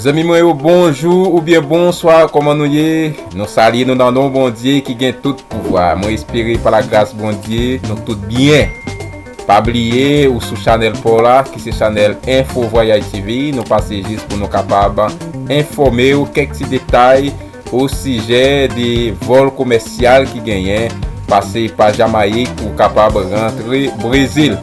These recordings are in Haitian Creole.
Zanmi mwen yo bonjou ou byen bonswa kòman nou ye nou salye nou nan non Bondye ki gen tout pouvwa mwen espere pa la gras Bondye nou tout byen pa bliye ou sou chanèl paw la ki se chanèl enfo vwayaj TV nou pase jis pou nou kapab enfòmew kèk ti detay Osijè de vòl komèsyal ki genyen, pase pa Jamayik pou w kapab rantre Brezil.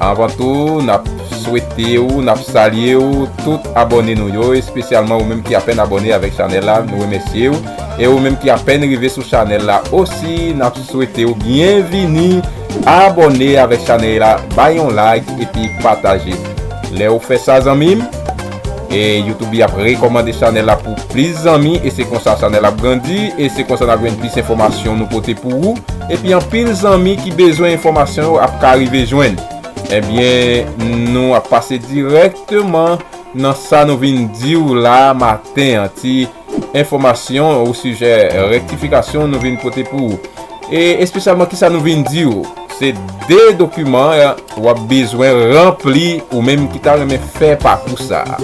Anvan tou, n ap swete ou, n ap salye ou tout abòne nou yo, espesyalman ou menm ki apèn abòne avèk chanèl la, nou remèsye ou. E ou menm ki apèn rive sou chanèl la osi, n ap swete ou byenvini, abòne avèk chanèy la, bay yon like epi pataje. Lè ou fè sa zanmi m. E youtube li ap rekomande chanel la pou plis zanmi e se konsa chanel la ap grandi e se konsa nap jwenn plis enfomasyon nou pote pou ou epi anpil zanmi ki bezwen enfomasyon yo ap ka rive jwenn ebyen nou ap pase direkteman nan sa nou vin diw la maten an ti Pou enfòmasyon ou sijè rektifikasyon nou vin pote pou ou e espesyalman kisa nou vin di ou, se 2 dokiman ou ap bezwen ranpli ou menm ki ta renmen fè pakou sa a.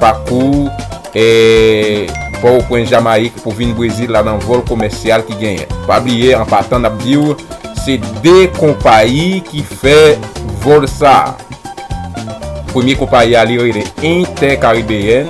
Pakou e pò ou pwen Jamayik pou vin Brezil la nan vòl komèsyal ki genyen. Pa bliye an patan n ap di ou se 2 konpayi ki fè vòl sa a. Premye konpayi a li rele Intè Karibeyèn.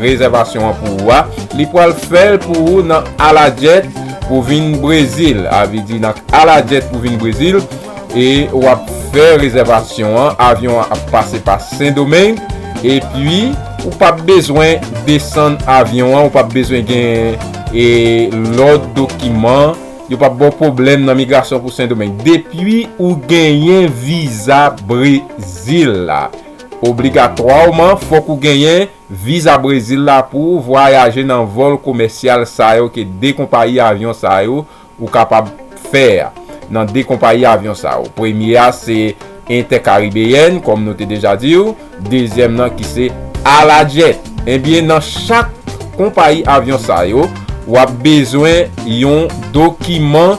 Rezèvasyon an pou ou a, li pwal fèl pou ou nan ala djèt pou vin brezil a vle di nan ala djèt pou vin brezil e wap fè rezèvasyon an avyon an ap pase pa sendomeng epi ou pap bezwen desann avyon an ou pap bezwen gen e lòt dokiman yo pap baw pwoblèm nan migrasyon pou sendomeng depi ou genyen viza brezil la. Obligatwawman fòk ou genyen viza Brezil la pouw vwayaje nan vòl komèsyal sa yo ke 2 konpayi avyon sa yo ou kapab fè a nan 2 konpayi avyon sa yo premye a se Intercaribbean kòm nou te deja diw dezyèm nan ki se Alajet ebyen nan chak konpayi avyon sa yo wap bezwen yon dokiman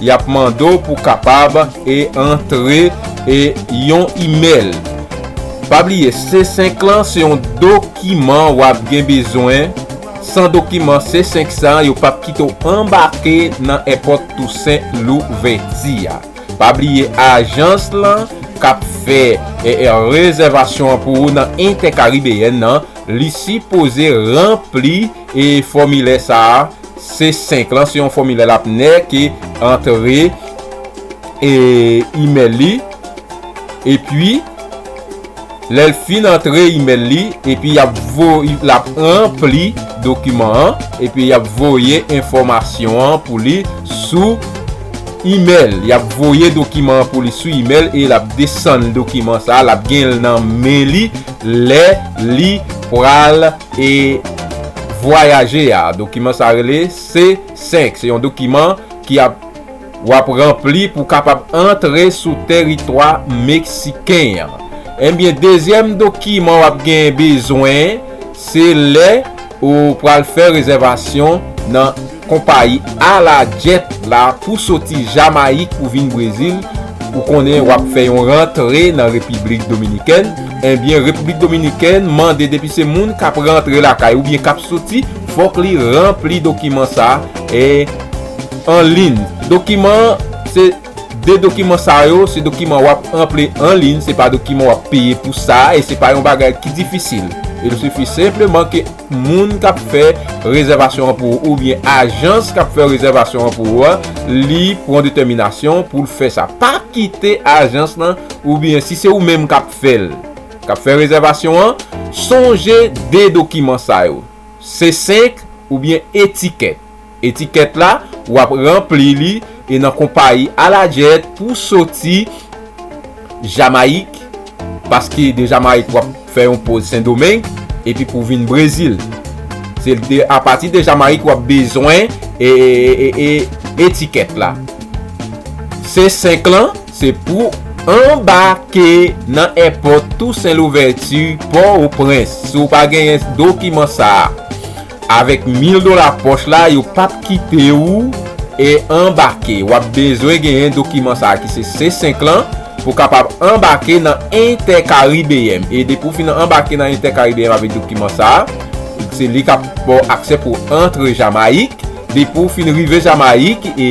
Yap mande w pou kapab e antre e yon email. Pa bliye C5 lan se yon dokiman wap gen bezwen, san dokiman C5 sa yo pap kite w anbake nan èpòt Tousen Louvèti a. Pa bliye ajans lan kap fè rezèvasyon an pou ou nan Intercaribbean nan li sipoze ranpli e fòmilè sa a C5 lan se yon fòmilè l ap nè ke antre e imèl li epi lè l fin antre imèl li epi y ap voye l ap ranpli dokiman an epi y ap voye enfòmasyon an pou li sou imèl y ap voye dokiman an pou li sou imèl e l ap desann dokiman sa l ap gen l nan men li lè li pral e vwayaje a. Dokiman sa rele C-5. Se yon dokiman ki ap w ap ranpli pou kapab antre sou teritwa meksiken an. Enbyen, dezyèm dokiman w ap gen bezwen se lè ou pral fè rezèvasyon nan. Konpayi Ala Jet la pou soti Jamayik pou vin Brezil, ou konnen wap fè yon rantre nan Repiblik Dominikèn, enbyen Repiblik Dominikèn mande depi se moun kap rantre lakay oubyen kap soti fòk li ranpli dokiman sa e an lin dokiman an se 2 dokiman sa yo se dokiman wap ranple an lin se pa dokiman wap peye pou sa e se pa yon bagay ki difisil il sifi senpleman ke moun k ap fè rezèvasyon an pou ou oubyen ajans k ap fè rezèvasyon an pou ou a li pran detèminasyon pou l fè sa. Pa kite ajans lan oubyen si se ou menm k ap fè l, k ap fè rezèvasyon an, sonje de dokiman sa yo, Se 5 oubyen etikèt. Etikèt la, w ap ranpli li e nan konpayi Aladjed pou w soti Jamayik, paske de Jamayik w ap fè yon poz Sendomeng epi pou w vin Brezil. Se apati de Jamayik w ap bezwen etikèt la. Se 5 lan, se pou w anbake nan èpòt Tousen Louvèti, Pò-o-Prens. Si w pa genyen dokiman sa a. Avèk mil dola pòch la yo pap kite ou e anbake wap bezwen genyen dokiman sa ki se C5 lan pou kapab anbake nan Inter Caribbean e depi ou fin anbake nan Inter Caribbean avèk dokiman sa se li kap baw aksè pou antre Jamayik depi ou fin rive Jamayik e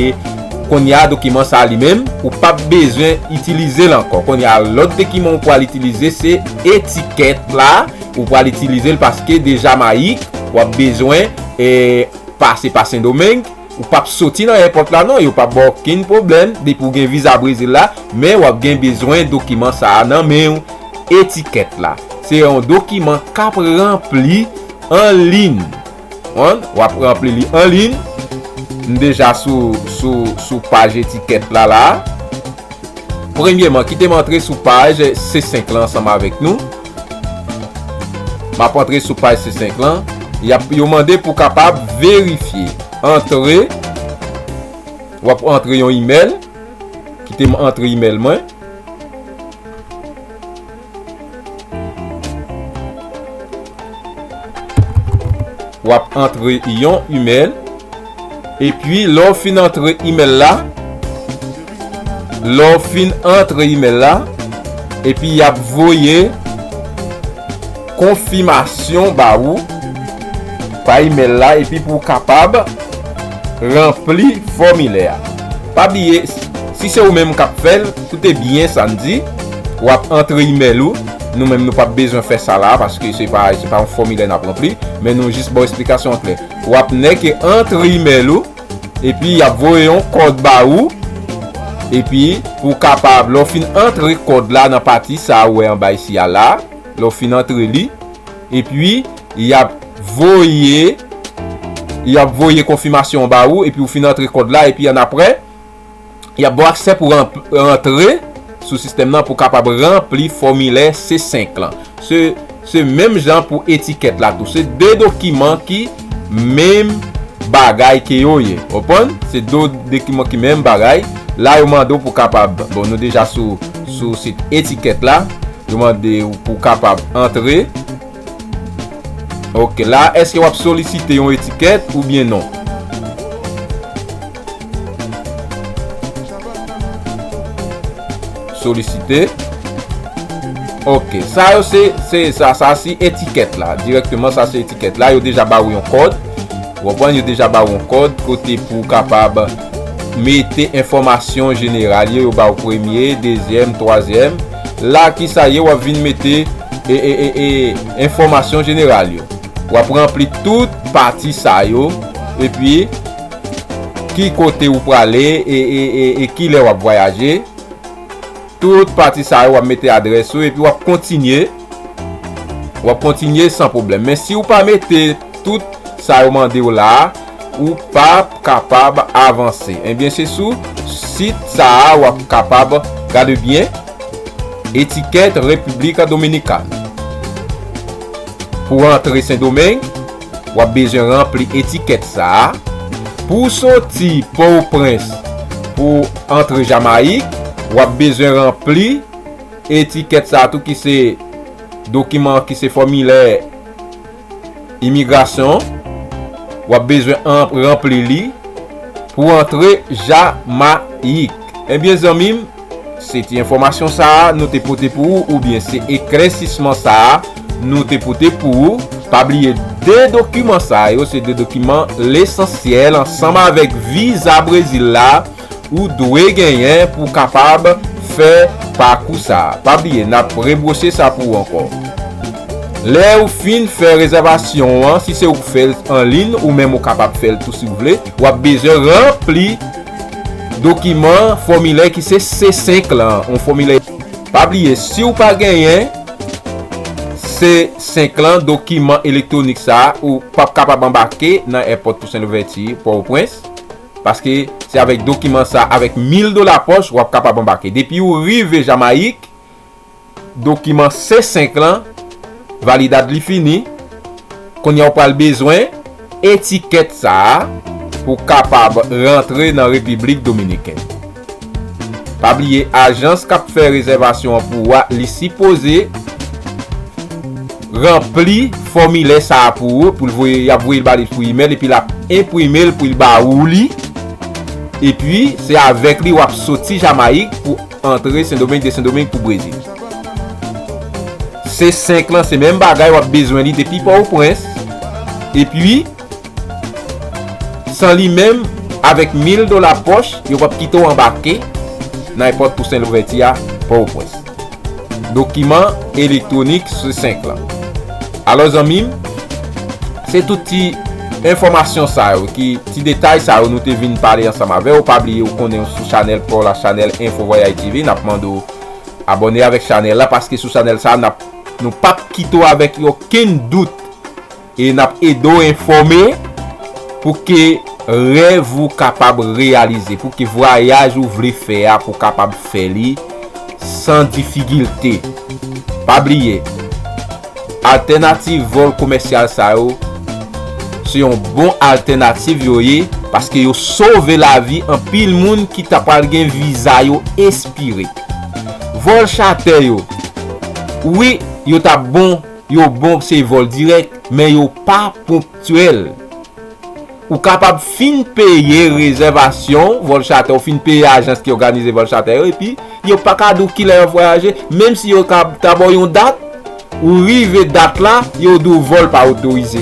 konnya dokiman sa li menm ou pap bezwen itilizel ankò konnya lòt dekiman ou pwal itilize se etikèt la. Ou pral itilize l paske de Jamayik w ap bezwen pase pa Sendomeng. Ou pap soti nan èpòt la non, yo pap ba w okenn pwoblèm depi w gen viza Brezil la. Men w ap gen bezwen dokiman sa a nan men w, etikèt la. Se yon dokiman k ap ranpli anliy. One, wap ranpli li an lin. M deja sou sou paj etikèt la la. Premyeman, kite m antre sou paj C5 lan ansanm avèk nou. Map antre sou paj C5 lan. Yap yo mande pou kapab verifye. Antre. Wap antre yon email. Kite m antre email mwen. Wap antre yon email. Epi lè w fin antre email la. Lè w fin antre email la. Epi yap voye. Konfimasyon ba ou. Pa email la. Epi pou w kapab. Ranpli fòmilè a. Pa bliye. Si se ou menm kap fèl. Koute byen sa n di, wap antre imèl ou, nou menm nou pap bezwen fè sa la a paske se pa yon fòmilè nap ranpli, men nou jis baw esplikasyon an klè. Wap nèke antre imèl ou, epi yap voye yon kòd ba ou, epi pou kapab lè w fin antre kòd la nan pati sa ou wè anba isi a la, lè w fin antre li, epi yap voye yap voye konfimasyon an ba ou, epi ou fin antre kòd la, epi annapre. y ap ba w aksè pou rantre sou sistèm nan pou w kapab ranpli fòmilè C-5 lan. Se menm jan pou etikèt la tou. Se 2 dokiman ki menm bagay ke yo ye. Ou konprann? Se 2 dokiman ki menm bagay. La yo mande w pou w kapab, bon nou deja sou sit etikèt la. Yo mande w pou w kapab antre. Ok la eske wap solisite yon etiket ou byen non. Solisite Ok sa yo se se sa sa si etiket la direkteman sa se etiket la yo deja ba ou yon kod wapwen yo deja ba ou yon kod kote pou kapab mete enfomasyon jeneral yo yo ba ou premye dezyem twazyem. La ki sa ye wap vin mete enfòmasyon jeneral yo. Wap ranpli tout pati sa yo epi ki kote ou prale e ki lè wap vwayaje. Tout pati sa yo wap mete adrès ou epi wap kontinye. Wap kontinye san pwoblèm. Men si ou pa mete tout sa yo mande ou la, ou pap kapab avanse ebyen se sou sit sa a wap kapab gade byen etikèt República Dominicana pou rantre sendomeng wap bezwen ranpli etikèt sa a pou w soti pò o prens pou w antre jamayik wap bezwen ranpli etikèt sa a tou ki se dokiman ki se fòmilè. Imigrasyon, w ap bezwen ranpli li pou antre Jamayik. Ebyen zanmi m, se ti enfòmasyon sa a nou te pote pou ou oubyen se eklèsisman sa a nou te pote pou ou. Pa bliye 2 dokiman sa yo se 2 dokiman lesansyèl ansanm avèk viza Brezil la. ou dwe genyen pou kapab fè pakou sa. Pa bliye nap rebwose sa pou ou ankò. Lèw fin fè rezèvasyon ou an, si se ouk fèl anlin ou menm ou kapab fèl tou siw vle, wap bezwen ranpli dokiman fòmilè ki se C5 lan, yon fòmilè. Pa bliye siw pa genyen C5 lan, dokiman elektwonik sa, ou pap kapab anbake nan èpòt Toussaint Louverture Port-au-Prince. Paske se avèk dokiman sa avèk 1000 dola pòch wap kapab anbake. Depi ou rive Jamayik, dokiman C5 lan, validad li fini, kounya ou pral bezwen etikèt sa pou kapab rantre nan Repiblik Dominiken. Pa bliye ajans kap fè rezèvasyon an pou ou a li sipoze ranpli fòmilè sa a pou ou pou l voye yap voye l ba li pou imèl epi lap enprime l pou l ba ou li epi se avèk li wap soti Jamayik pou antre Sendomeng de Sendomeng pou Brezil. Se 5 lan se menm bagay wap bezwen li depi Pòwoprens epi. San li menm, avèk mil dola pòch, yo p ap kite w anbake nan Èpòt Tousen Louvèti a, Pòtoprens. Dokiman elektwonik sou 5 lan. Alò zanmi m, se tout ti enfòmasyon sa yo, ki ti detay sa yo nou te vin pale ansanm avè w. Pa bliye ou konnen ou sou chanèl pa w la, chanèl Info Voyage TV. N ap mande w abòne avèk chanèl la, paske sou chanèl sa a, n ap, nou p ap kite w avèk okenn dout. E n ap ede w enfòme pou ke rèv ou kapab reyalize, pou ke vwayaj ou vle fè a pou kapab fè li san difigilte. Pa bliye, altènativ vòl komèsyal sa yo, se yon bon altènativ yo ye, paske yo sove lavi anpil moun ki ta pral gen viza yo espire. Vòl chatè yo, wi, yo ta bon. Yo bon se vòl dirèk, men yo pa ponktyèl. Ou kapab fin peye rezèvasyon vòl chatè ou, fin peye ajans ki òganize vòl chatè yo, epi yo pa ka di w kilè y ap vwayaje, menm si yo ta ba w yon dat, ou rive dat la, yo di w vòl pa otorize.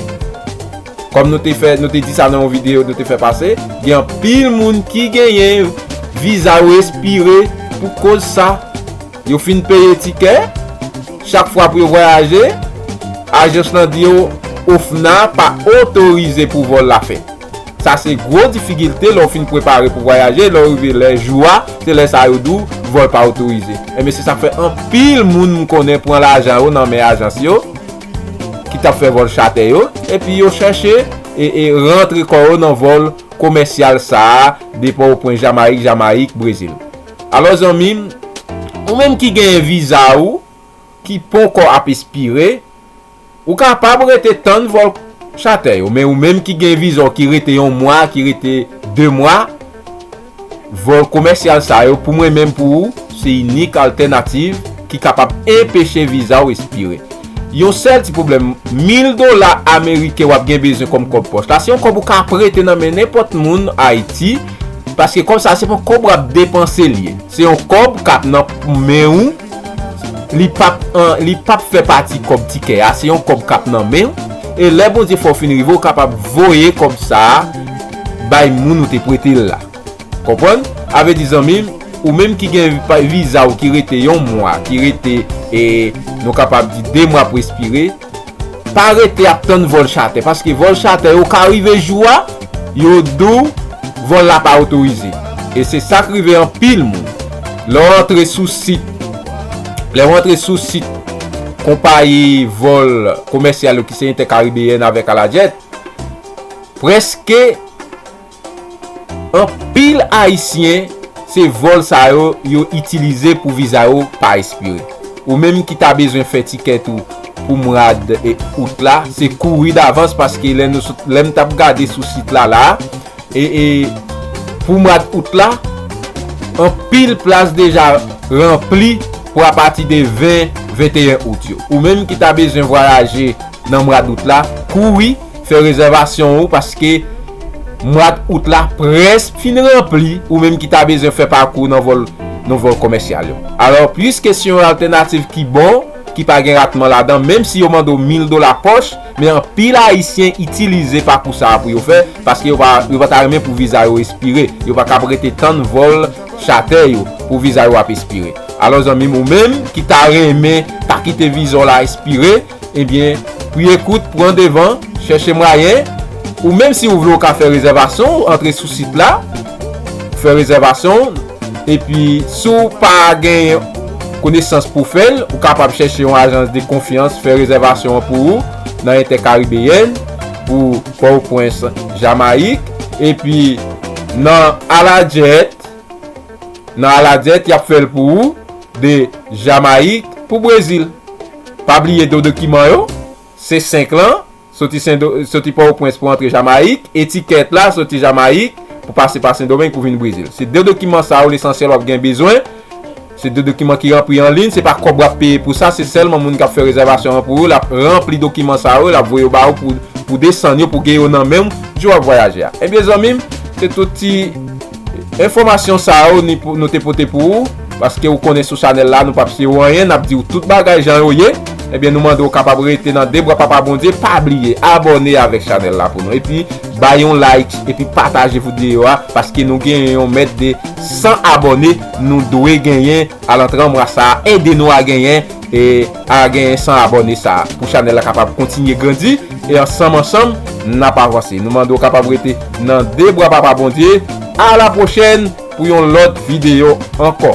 Kòm nou te fè, nou te di sa nan yon videyo nou te fè pase, gen anpil moun ki genyen viza yo espire pou koz sa. Yo fin peye tikè chak fwa pou yo vwayaje, ajans lan di yo OFNA pa otorize pou vòl la fèt. Sa se gwo difigilte lè w fin prepare pou vwayaje, lè w rive lè jou a, se lè sa yo di w vòl pa otorize. Enben se sa k fè anpil moun m konnen pran lajan yo nan men ajans yo ki t ap fè vòl chatè yo epi yo chèche rantre kò yo nan vòl komèsyal sa a depa w pwen Jamayik, Jamayik, Brezil. Alò zanmi m, ou menm ki genyen viza ou ki ponkò ap espire, ou kapab rete tann vòl chatè yo. Men ou menm ki gen viza w ki rete yon mwa, ki rete 2 mwa, vòl komèsyal sa yo pou mwen menm pou ou, se inik altènativ ki kapab enpeche viza ou espire. Yon sèl ti pwoblèm, mil dola ameriken w ap gen bezwen kòm kòb pòch la, se yon kòb ou ka prete nan men nenpòt moun Ayiti, paske kòb sa se pa yon kòb w ap depanse li ye. Se yon kòb k ap nan men ou, li pa p ap fè pati kòb tikè a, se yon kòb k ap nan men ou, e lè Bondye fè w fin rive, ou kapab voye kòb sa a bay moun ou te prete l la. Konprann? A vle di zanmi m, ou menm ki gen viza ou ki rete yon mwa, ki rete e nou kapab di 2 mwa ap respire, pa rete ap tann vòl chatè, paske vòl chatè yo ka rive jou a, yo di w vòl la pa otorize. E se sa k rive anpil moun. Lè w antre sou sit, lè w antre sou sit konpayi vòl komèsyal yo ki se Intercaribbean avèk Alajet, prèske. Anpil ayisyen se vòl sa yo yo itilize pou viza yo pa espire. Ou menm ki ta bezwen fè ticket ou pou mwad Août la se kouri davans paske lè nou sot lèm tap gade sou sit la la ee pou mwad Août la anpil plas deja ranpli pou apati de 20, 21 Août yo. Ou menm ki ta bezwen vwayaje nan mwad Août la kouri. Fè rezèvasyon ou paske mwad Out la prèsk fin ranpli ou menm ki ta bezwen fè pakou nan vòl nou vòl komèsyal yo. Alò puiske se yon altènativ ki bon, ki pa gen ratman ladan menm si yo mande w 1000 dola pòch, men anpil ayisyen itilize pakou sa a pou yo fè paske yo pa yo pa ta renmen pou viza yo espire, yo pa kab rete tann vòl chatè yo pou viza yo ap espire. Alò zanmi m ou menm ki ta renmen pa kite viza w la espire, Ebyen, pri ekout pran devan, chèche mwayen ou menm si ou vle ou ka fè rezèvasyon ou antre sou sit la ou fè rezèvasyon ou epi si ou pa genyen konesans pou fèl ou kapab chèche yon ajans de konfyans fè rezèvasyon an pou ou nan Entèkaribeyèn pou Pòwprens Jamayik epi nan Aladjèt nan Aladjèt yap fèl pou ou de Jamayik pou Brezil. Pa bliye do dokiman yo, se 5 lan, soti Pòtoprens pou antre Jamayik, e tikèt la soti Jamayik pou pase pa Sendomeng pou vin Brezil. Se de dokiman sa yo lesansyèl w ap gen bezwen. Se de dokiman ki ranpli an liy, se pa kòb w ap peye pou sa, se sèlman moun k ap fè rezèvasyon an pou ou, l ap ranpli dokiman sa yo, l ap voye yo ba ou pou w desann yo, pou w gen yo nan men w, jou w ap vwayaje a. Ebyen zanmi m, se tout ti. Enfòmasyon sa yo nou te pote pou ou, paske ou konnen sou chanèl la nou pap siye ou anyen, nap diw tout bagay jan yo ye, ebyen nou mande ou kapab rete nan 2 bra papa Bondye, pa bliye abòne avèk chanèl la pou nou, epi bay yon like epi pataje vdyeyo a, paske nou genyen yon mèt de 100 abòne nou dwe genyen alantran mwa sa, ede nou a genyen. E a genyen 100 abòne sa pou chanèl la kapab kontinye grandi e ansanm ansanm nap avanse nou mande ou kapab rete nan 2 bra papa Bondye a la pwochèn pou yon lòt videyo ankò.